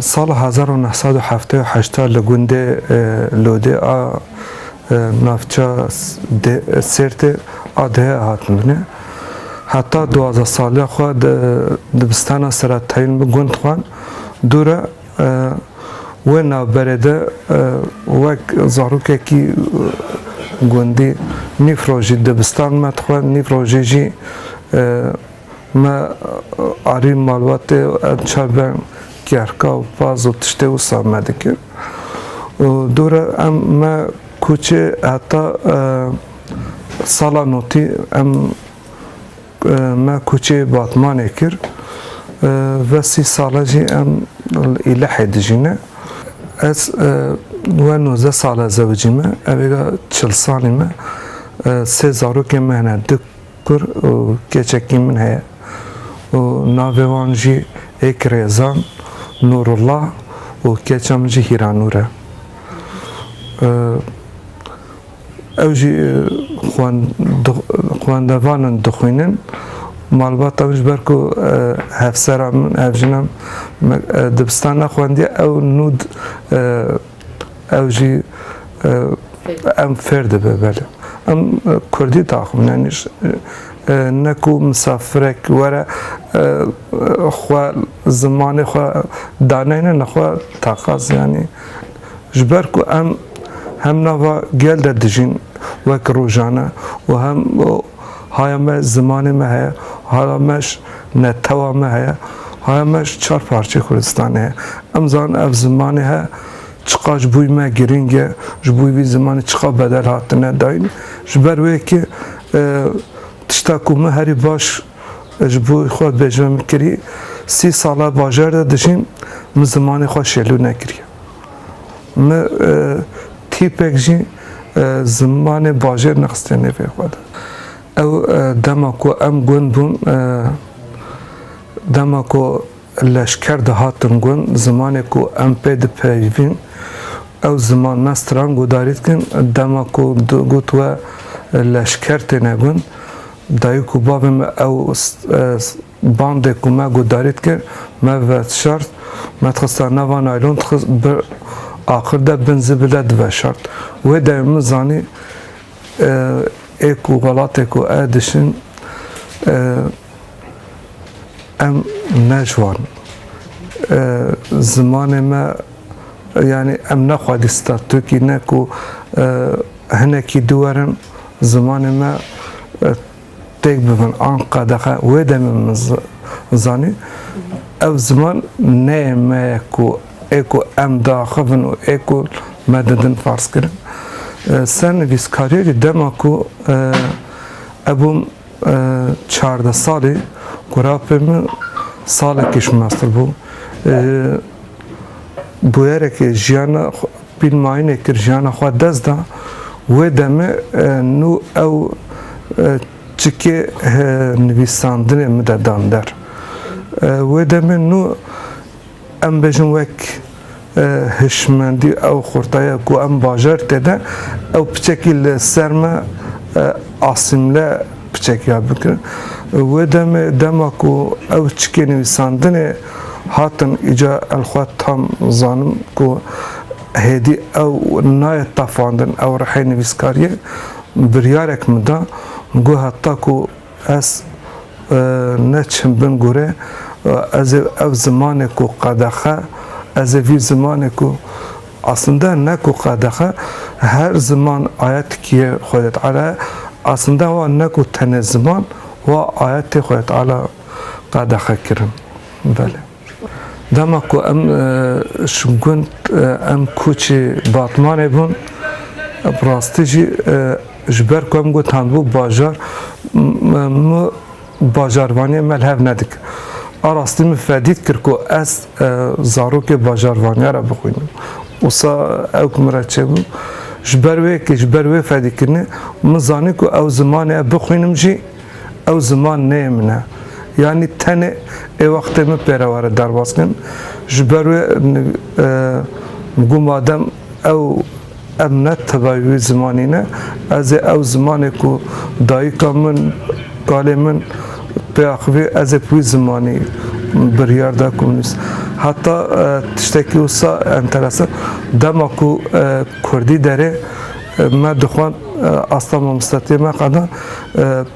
Sala hezar û neh sed û heftê û heşt de li gundê Lodê a navça Sêrtê a dihê hatin binê. Heta duwazdeh saliya xwe di dibistana Seretayîn bi gund xwend. Dû re Wê navberê de wek zarokekî gundî nîv rojî dibistan me dixwe, nîv rojî jî me arî malbatê û em çar be kêhrka û paz û tiştê wisa me dikir. Dûre em me kûçê heta sala notî em Me koçê Batmanê kir. Ve sî sal e jî em li Îlehê dijî ne. Ez we nozdeh sal e zewicî me. Evêga çil salî me. Sê zarokên me hene du kur û keçekî min heye û navê wan jî êk Rêzan, Nûrullah û keça min jî Hîranûr e. Ew jî xwendevan in dixwînin. Malbata min ji ber ku hevsera min, hevjina min dibistan nexwendiye ew nû ew jî em fêr dibe belê. Em kurdî daxivin yanî ne ku misafirek were xwe zimanê xwe daneyne nexwe taqaz yanî Ji ber ku em hem nava gel de dijîn wek rojane û hem haya me zimanê me heye, haya me ji netewa me heye, haya me ji çar parçeyê Kurdistanê heye. Em zanin ev zimanê he çiqas ji bo me girîng e, ji bo vî zimanê çiqas bedel hatine dayîn. Ji ber wê yekê tişta ku min herî baş ji bo xwe bêjme min kirî, sî sal e bajar de dijîm, min zimanê xwe şêlû nekiriye. Ni tîpek jî zimanê bajêr nexstiye nêvê xwe de. Ew dema ku em gund bûn, dema ku leşker de hatin gund, zimanê ku em pê dipeyivîn, ew ziman me stran gudarî dikin, dema ku digot we leşker têne gund, dayik û bavê me ew Bandê ku me guhdarî dikir, me veşart, me dixista nava naylon, dixist bi axir de bin zibil de diveşart. Wê demê min zanî ê ku welatê ku ez dişin em ne ji wan in. Zimanê me yanî em ne xwedî statûkî ne ku hinekî dû werin zimanê me têk bibin an qedexe wê demê min zanî ev ziman neyê me ye ku ê ku em diaxivin û ê ku me didin farzkirin sernivîskariyê jî dema ku ebûm çardeh salî ku rapê min salekî ji master bû bûyerekê jiyana Pîlmayînê kir jiyana xwe dest da wê demê nû ew çikê hi nivîsandinê min de dan der. Wê demê nû em bêjin wek hişmendî ew xurtaya ku em bajarî tê de ew piçekî li ser me asîmle piçekiya bikin. Wê demê dema ku ew çikê nivîsandinê. Hatim îca el xwe tam zanim ku hêdî ew nayê tafandin ew rihê nivîskariyê biryarek min da got heta ku ez ne çim bin gorê ez ê ev zimanê ku qedexe ez ê vî zimanê ku aslinde ne ku qedexe her ziman aya tikiyê Xwedê Teala ye aslinde wa ne ku tenê ziman wa ayetê Xwedê Teala qedexe kirin. Belê. Dema ku em e, ji gund e, em koçê Batmanê bûn, bi rastî jî e, ji ber ku em gotandbû bajar min bajarvaniyê me li hev nedik. A rastî min fedî dikir ku ez zarokê bajarvaniya re bixwînim. Wisa ew ku min re çêbû ji ber wê yekê ji ber wê fedîkirinê min zanî ku ew zimanê bixwînim jî Ew ziman neyê min e. Yanî tenê ê wextê min pêre were derbas kirin. Ji ber wê got madem ew em ne tevayî wî zimanî ne, ez ê ew zimanê ku dayika min, kalê min pê axivî ez ê bi wî zimanî biryar da ku min nivîs. Heta tiştekî wisa enteresan, dema ku kurdî derê me dixwend asta mamostetiyê me qeda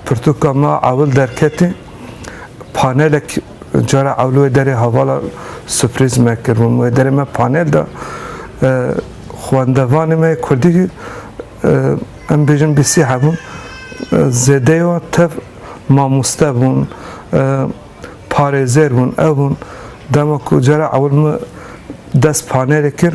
Pirtûka me ewil derketî, panelek cara ewil wê derê hevala suprîz me kir. Min wê derê me panel da. Xwendevanê me yê Kurdî em bêjin bî sî hebûn. Zêdeyê wan tev mamoste bûn, parêzer bûn, ev hûn. Dema ku cara ewil min dest panelê kir,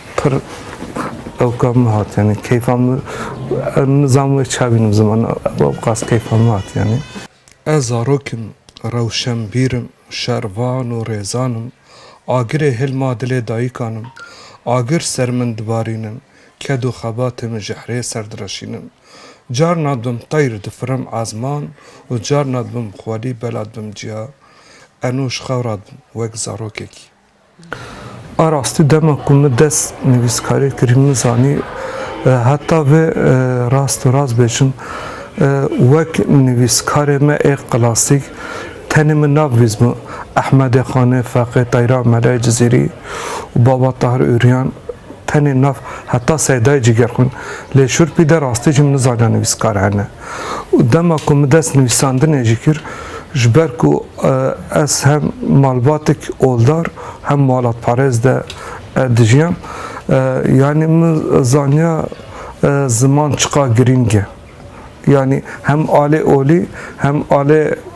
pir ewka min hat yanî keyfa min nizam wê ça bînim ziman ewqas keyfa min hat yanî. Ez zarok im, rewşenbîr im, şervan û rêzan im, agirê hil ma dilê dayîkan im, agir ser min dibarînin, ked û xebatê min ji hirê ser direşînin. Carna dibim teyr difirim ezman û carna dibim xwelî bela dibim ciya. Enû ji xewra dibim wek zarokekî. A rastî dema ku min dest nivîskariyê kirî min zanî heta vê rast û rast bêjim wek nivîskarê me ê klasîk tenê min nav vîzbû Ehmedê Xanê, Feqê Teyra, Melayê Cizîrî û Baba Tahir Ûrîyan tenê nav heta Seydayê Cîgerxwîn lê şûrpî de rastî jî min nizaniya nivîskar hene. û dema ku min dest nivîsandinê jî kir ji ber ku ez hem malbatek oldar hem malatparêz de dijiyam yanî min zaniya ziman çiqa girîng e yanî hem alê olî hem alê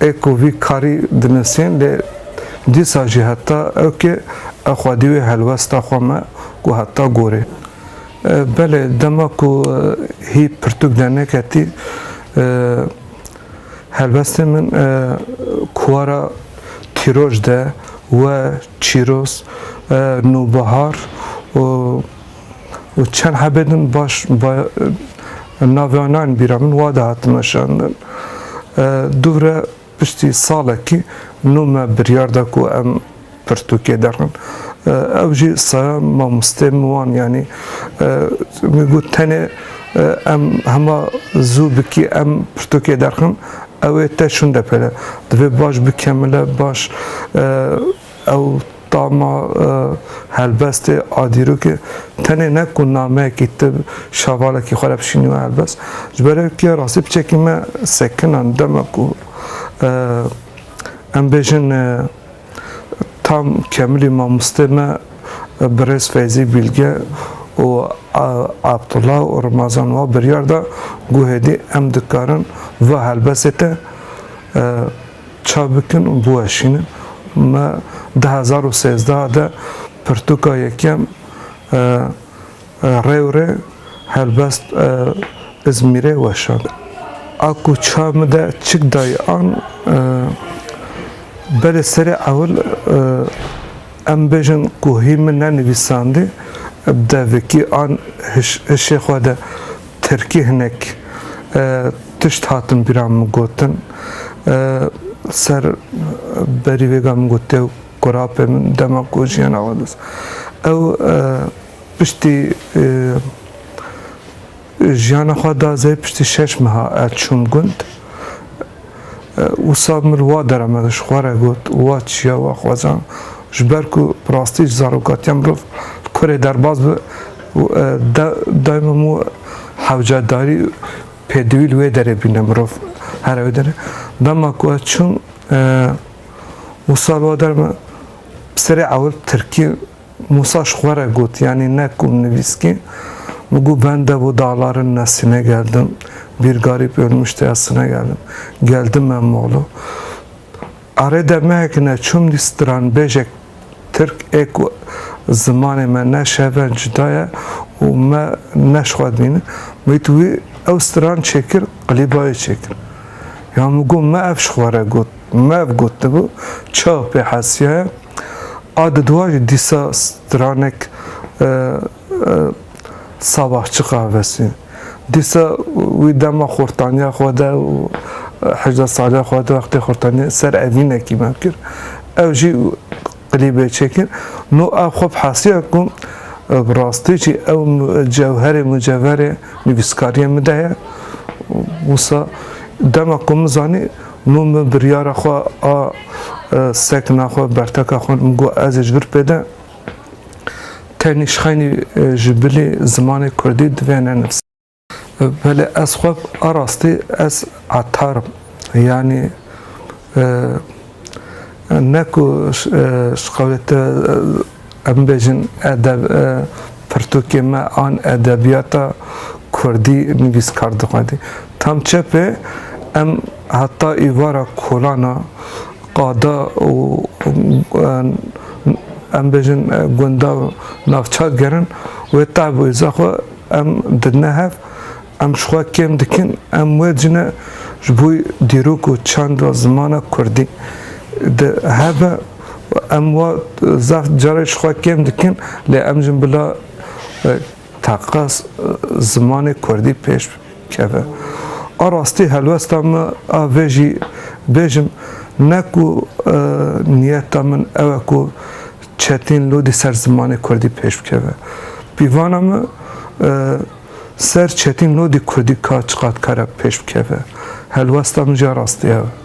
Ê ku vî karî dinisîn lê dîsa jî heta ewkê ew xwedî wê helwesta xwe me ku heta gorê. Belê dema ku hî pirtûk derneketî helwestên min kuwara Tîroj de we Çîroz, Nûbihar û. û çend hebê din baş navê wan nayên bîra min wa de hatin weşandin. Dûvre piştî salekî nû me biryar da ku em pirtûkê derin. Ew jî saya mamosteyên min wan yanî min got tenê em hema zû bikî em pirtûkê derxin ew ê te şûnde pere. Divê baş bikemile baş Ew tama helbestê a dîrokê tenê ne ku nameyekî ti şavalekî xwe re bişînî wê helbest, ji ber ew ke rastî piçekî me sekinan dema ku em bêjin tam kemilî mamostê me birêz Feyzî Bîlge û Abdullah û Rimazan wa biryar da ku hêdî em dikarin va helbestê te Çav bikin û biweşînin. Me du hezar û sêzdeh de pirtûka yekem Rewrê Helbest Izmîrê weşand. A ku çav min de çik dayî an belê serê ewil em bêjin ku hî min nenivîsandî, devekî an hişê xwe de Tirkî hinek tişt hatin bîra min gotin ser berî vêga min got dêw kurapê min dema ku jiyana wan dest ew piştî jiyana xwe da zê piştî şeş meha ez çûm gund wisa min wa dera me ji xwe re got wa çiya wa xwezan Ji ber ku bi rastî ji zarokatiya mirov li kurê derbas be û daîma mû hewcedarî û pêdivî li wê derê bîne mirov here wê derê. Dema ku ez çûm Mûsa li we der me bi serê ewil bi tirkî Mûsa ji xwe re got yanî ne ku min nivîskî min got ben de bo dağların nesline geldim. Bir garip ölmüştü esline geldim. Geldim ben Moğlu. Arê demehek ne çûm dî stranbêjek tirk ê ku zimanê me ne şeven cuda ye û me neşxwedbîn, min wît wî ew stran çêkir qilîbayê çêkir. Ya min got me ev ji xwe re got, me ev gotibû çawa pê hesiyaye. A di dûan jî dîsa stranek Sabah çi qavesî? Dîsa wî dema xurtaniya xwe de û hejda saliya xwe de wextê xurtaniye ser evînekî me kir. Ew jî klîbê çêkir. No ev xwe bi hesiya ku bi rastî jî ew cewherê mucevherê nivîskariyê min de ye. Wisa dema ku min zanî no min biryara xwe a sekna xwe berteka xwe min got ez ê ji vir pê de Tenê şxeynî ji bilê zimanê kurdî divê nenivîse. Belê ez xwe a rastî ez etar im. Yanî ne ku ji qewlê te em bêjin edeb pirtûkê me an edebiyata kurdî nivîskar dixwendî. Tam çepê em heta êvara kolana qada û em bêjin gunda navçak gerin wê tevwêza xwe em didine hev, em ji xwe kêm dikin, em wê cine ji bo dîrok û çand ve zimana kurdî di hebe û em wa zaf carê ji xwe kêm dikin lê em jin bila Taqa zimanê kurdî pêş bikeve. A rastî helwesta min a vê jî bêjim ne ku niyeta min ew e ku çetîn lûdî ser zimanê kurdî pêş bikeve. Pîvana min ser çetîn lûdî kurdî ka çiqad kare pêş bikeve. Helwesta min jî a rastî ew e.